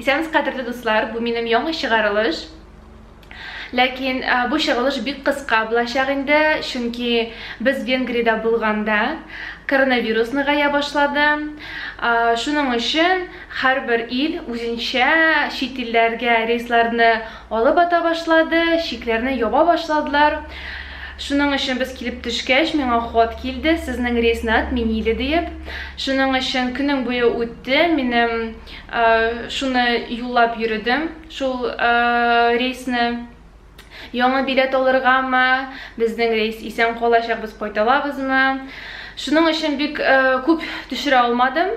Исәнез кадерле дуслар, бу минем яңа чыгарылыш. Ләкин бу чыгылыш бик кыска булачак инде, чөнки без Венгриядә булганда коронавирус ныгая башлады. Шуның өчен һәрбер ил үзенчә чит илләргә рейсларны Алып ата башлады, чикләрне яба башладылар. Шуның өчен без килеп төшкәч, миңа хат килде, сезнең рейсны отменили диеп. Шуның өчен көнең буе үтте, минем шуны юллап йөридем, шул рейсны. Яңа билет алыргамы, безнең рейс исән калачак, без кайталабызмы? Шуның өчен бик күп төшерә алмадым.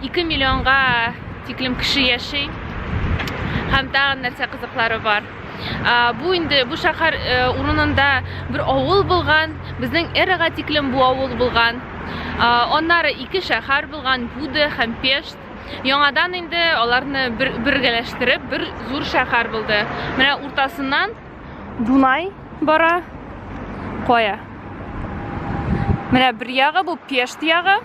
2 миллионга тиклем кеше яши һәм тагын нәрсә кызыклары бар бу инде бу шәһәр э, урынында бер авыл булган безнең эрага тиклем бу авыл булган аннары ике шәһәр булган буде һәм пешт яңадан инде аларны бер, бергәләштереп бер зур шәһәр булды менә уртасыннан дунай бара кая менә бер ягы бу пешт ягы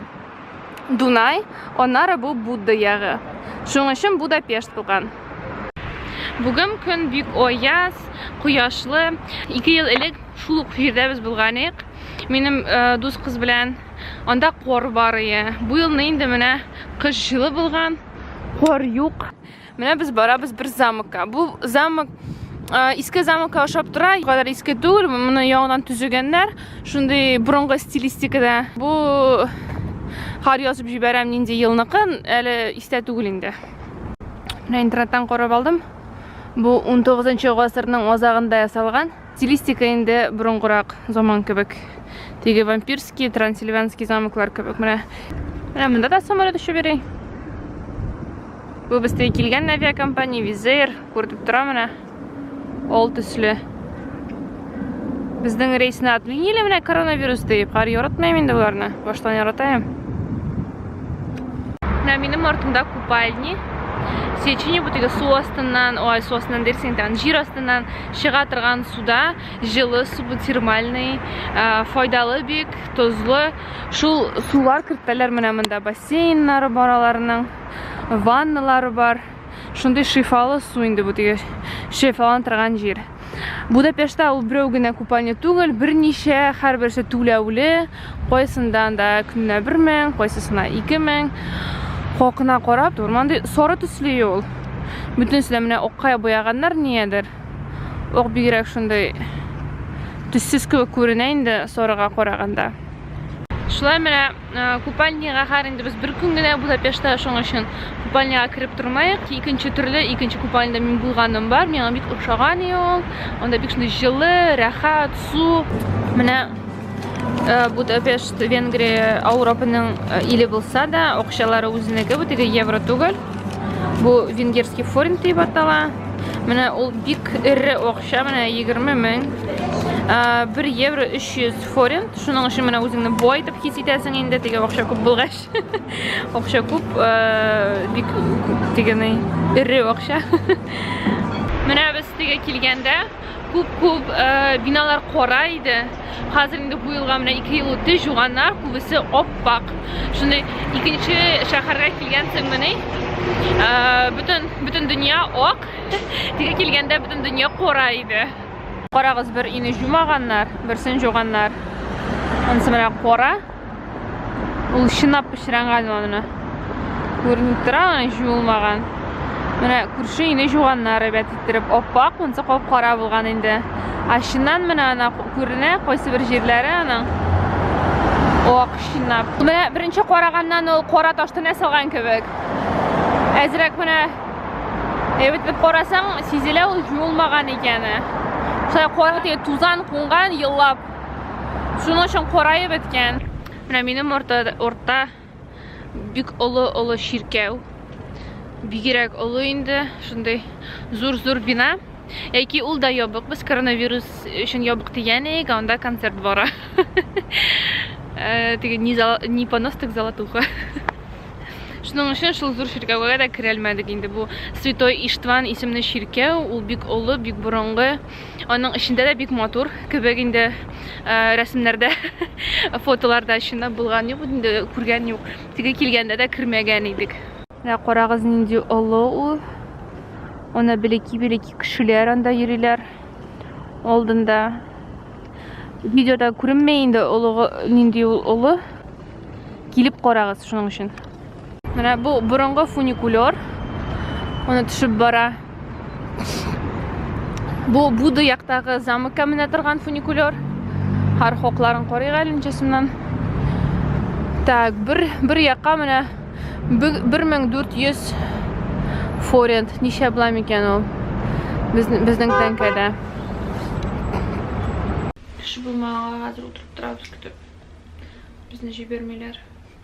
Дунай, аннары бу Будда ягы. Шуның өчен Будапешт булган. Бүген көн бик аяз, кояшлы. Ике ел элек шул ук җирдә без булган идек. Минем э, дус кыз белән анда кор бар ие. Бу елны инде менә кыш җылы булган, кор юк. Менә без барабыз бер замокка. Бу замок иске замокка ошап тора, кадәр иске түгел, моны яңадан төзегәннәр. Шундый борынгы стилистикада. Бу хар язып җибәрәм нинди елныкы, әле истә түгел инде. Менә интернеттан карап алдым. Бу 19 нчы гасырның азагында ясалган. Стилистика инде борынгырак заман кебек. Теге вампирский, трансильванский замоклар кебек. Менә. Менә монда да самолет очып йөри. Бу бездә килгән авиакомпания Визер, күрдеп тора менә. Ол төсле. Безнең рейсны отменили менә коронавирус дип. Кар яратмыйм инде боларны. Баштан яратаем. Менә минем артымда купальни. Сечени бу теге су астыннан, ой, су астыннан дерсең, тагын җир астыннан чыга торган суда җылы су бу термальный ә, файдалы бик тозлы шул сулар кертәләр менә монда бассейннары бар аларның ванналары бар шундый шифалы су инде бу теге шифаланып торган җир Будапештта ул берәү генә купальня түгел, берничә, һәрберсе түләүле, Кайсындан да көненә бер мең, кайсысына ике мең. Хакына карап, тормандый сары төсле юл. Бүтенесе дә менә акка буяганнар ниядер. Ак бигрәк шундый төссез кебек күренә инде сарыга караганда. Шулай менә купальняга хәр инде без бер көн генә Будапештта, шуның өчен купальняга кереп тормаек. Икенче төрле, икенче купальняда мин булганым бар, миңа бик ошаган ул. Анда бик шундый җылы, рәхәт, су. Менә Э, Будапешт, Венгрия, Ауропының э, иле булса да, акчалары үзенеке, бу теге евро түгел. Бу венгерский форин дип атала. Менә ул бик эре акча, менә 20 мең. 1 э, евро 300 форин. Шуның өчен менә үзеңне бай дип хис итәсең инде, теге акча күп булгач. Акча күп, бик дигәней, эре акча. Менә без теге килгәндә Күп-күп биналар кара иде. Хәзер инде бу елга менә 2 ел үтте, җуганнар күбесе оппак. Шундый икенче шәһәргә килгәнсең мени? Бүтән бүтән дөнья ак. Тиге килгәндә бүтән дөнья кара иде. Карагыз бер ине җумаганнар, берсен җуганнар. Ансы менә кара. Ул чынлап пычранган аны. Күренеп тора, җуылмаган. Менә күрше инде жуганнар әйбәт иттереп, аппак, монсы кап-кара булган инде. А чыннан менә ана күренә, кайсы бер җирләре аның. Ак чынлап. Менә беренче караганнан ул кара ташты нә салган кебек. Әзрәк менә әйбәт итеп карасаң, сизелә ул җуылмаган икәне. Шулай кара тузан кунган еллап. Шуның өчен караеп беткән. Менә минем орта, орта бик олы-олы чиркәү. Бигерәк олы инде, шундый зур-зур бина. Яки ул да ябык, без коронавирус өчен ябык дигән идек, анда концерт бара. Э, теге не, зал, не понос, так золотуха. Шуның өчен шул зур чиркәүгә дә керәлмәдек инде. Бу Святой Иштван исемле чиркәү, ул бик олы, бик борынгы. Аның эчендә дә бик матур кебек инде э, рәсемнәрдә, фотоларда чында булган юк инде, күргән юк. Теге килгәндә дә кермәгән идек. Менә карагыз нинди олы ул. Ана белеки-белеки кешеләр анда йөриләр. Алдында видеода күренмәй инде олыгы нинди ул олы. Килеп карагыз шуның өчен. Менә бу борынгы фуникулер. Аны төшеп бара. Бу Буды яктагы замыкка менә торган фуникулер. Хар хокларын карыйк әле ничәсеннән. Так, бер бер якка менә 1400 форент. Ничә була микән ул? Безнең безнең тәңкәдә. Кеше булмаганга хәзер утырып торабыз көтеп. Безне җибәрмиләр.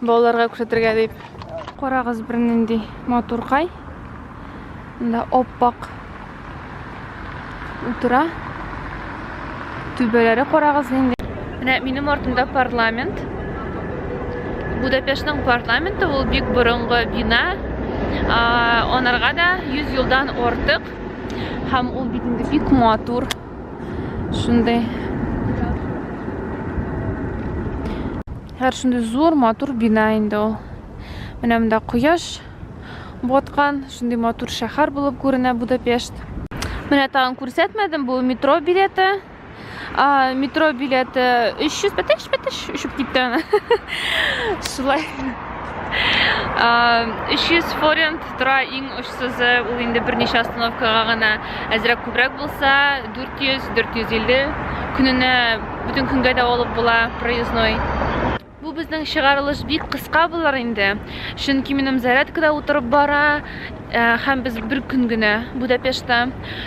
Балаларга күрсәтергә дип. Карагыз бер нинди матуркай. Монда оппак утыра. Түбәләре карагыз нинди. Менә минем артымда парламент. Будапештның парламенты ул бик борынгы бина. Анарга да 100 елдан артык. Һәм ул бит инде бик матур. Шундый. Һәр шундый зур матур бина инде ул. Менә монда кояш баткан, шундый матур шәһәр булып күренә Будапешт. Менә тагын күрсәтмәдем, бу метро билеты. А, метро билеты 300 бәтеш, бәтеш, өшеп китте. Шулай. 300 форент Тора иң очсызы, ул инде берничә остановкага гына әзрәк күбрәк булса, 400-450 көненә бүтән көнгә дә алып була проездной. Бу безнең чыгарылыш бик кыска булыр инде, чөнки минем зарядкада утырып бара, э, һәм без бер көн генә Будапештта.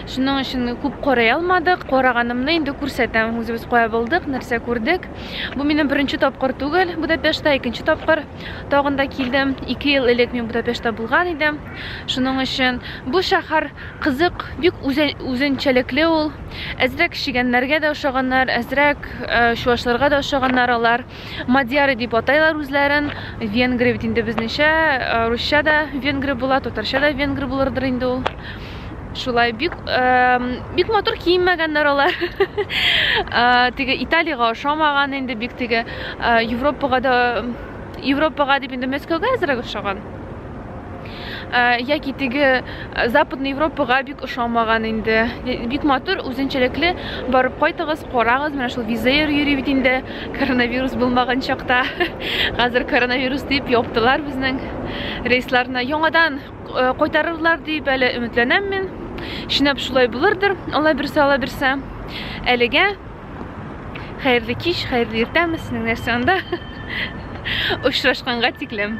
Шуның өчен күп карый алмадык. Караганымны инде күрсәтәм. Үзебез кая булдык, нәрсә күрдек. Бу минем беренче тапкыр түгел Будапештта, икенче тапкыр. Тагын да килдем. Ике ел элек мин Будапештта булган идем. Шуның өчен бу шәһәр кызык, бик үзенчәлекле ул. Әзрәк чегәннәргә дә ошаганнар, әзрәк чуашларга да ошаганнар алар. Мадьяры дип атайлар үзләрен. Венгры бит инде безнечә, русча да венгры була, татарча да венгры булырдыр инде ул. Шулай бик бик матур киенмәгәннәр алар. Теге Италиягә ошамаган инде бик теге Европага да Европага дип инде Мәскәүгә әзрәк ошаган. Яки теге Западный Европага бик ошамаган инде. Бик матур, үзенчәлекле. Барып кайтыгыз, карагыз, менә шул визер йөри бит инде. Коронавирус булмаган чакта. Хәзер коронавирус дип яптылар безнең рейсларны. Яңадан Э, кайтарырлар дип әле өметләнәм мин. Чинап шулай булырдыр, Алла бирсә, Алла бирсә. Әлегә хәерле кич, хәерле иртәме, сезнең нәрсә анда? Очрашканга тиклем.